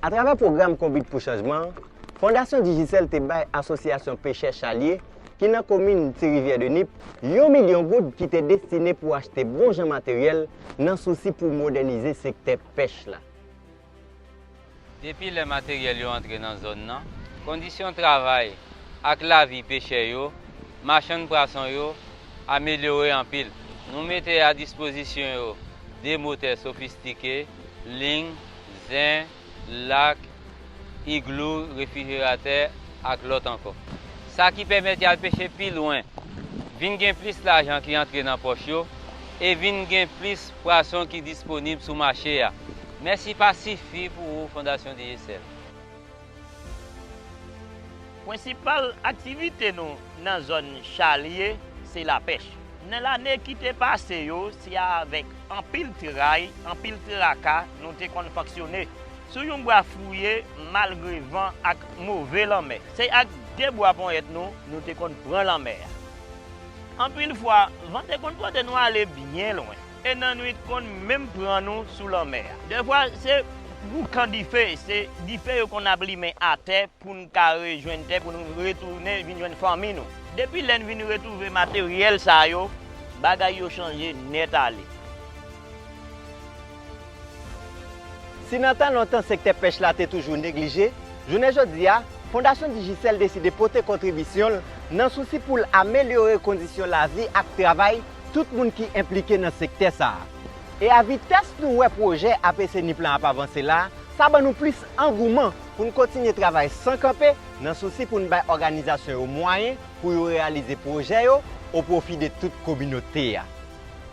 Atravè pwogram Konbit pou Chanjman an, Fondasyon Digicel te bay Asosyasyon Pechè Chalye ki nan komin Ti Rivyè de Nip yon milyon goud ki te destine pou achte bon jan materyèl nan sousi pou modènize sektè pèch la. Depi lè materyèl yo antre nan zòn nan, kondisyon travay ak lavi pechè yo, machann prason yo amelyore anpil. Nou mete a dispozisyon yo 2 motè sofistike, ling, zen, lak, iglou, refrijeratè ak lòt ankò. Sa ki pèmèt y al peche pi lwen, vin gen plis lajan ki antre nan pòch yo e vin gen plis pwason ki disponib sou mache a. Mèsi pa sifi pou ou Fondasyon Digicel. Prensipal aktivite nou nan zòn Chalye se lapèch. Nan lane ki te pase yo, se avèk anpil tray, anpil traka nou te konn fonksyone. Sou yon bwa fouye malgre van ak move lanmè. Se ak de bwa ponyèt nou, nou te konn pran lanmè a. Anpil fwa, van te konn pote nou ale byen lwen, e nannuit konn menm pran nou sou lanmè a. Dèfwa, se boukan dife, se dife yo konn ap limen atè pou n ka rejwenn tè pou n retounen vin jwenn fanmi nou. Depi lè n vin retwouve materyèl sa yo, bagay yo chanje nèt ale. Si nan tan lontan sektè pèch la te toujou neglije, jounen jodi a, Fondasyon Digicel deside pote kontribisyon l nan sousi pou l amelyore kondisyon lavi ak travay tout moun ki enplike nan sektè sa a. E a vitès nou wè pwojè APC Nip lan ap avanse la, sa ban nou plis angouman pou n kontinye travay san kanpe nan sousi pou n bay òganizasyon yo mwayen pou yo reyalize pwojè yo o pwofi de tout kominote a.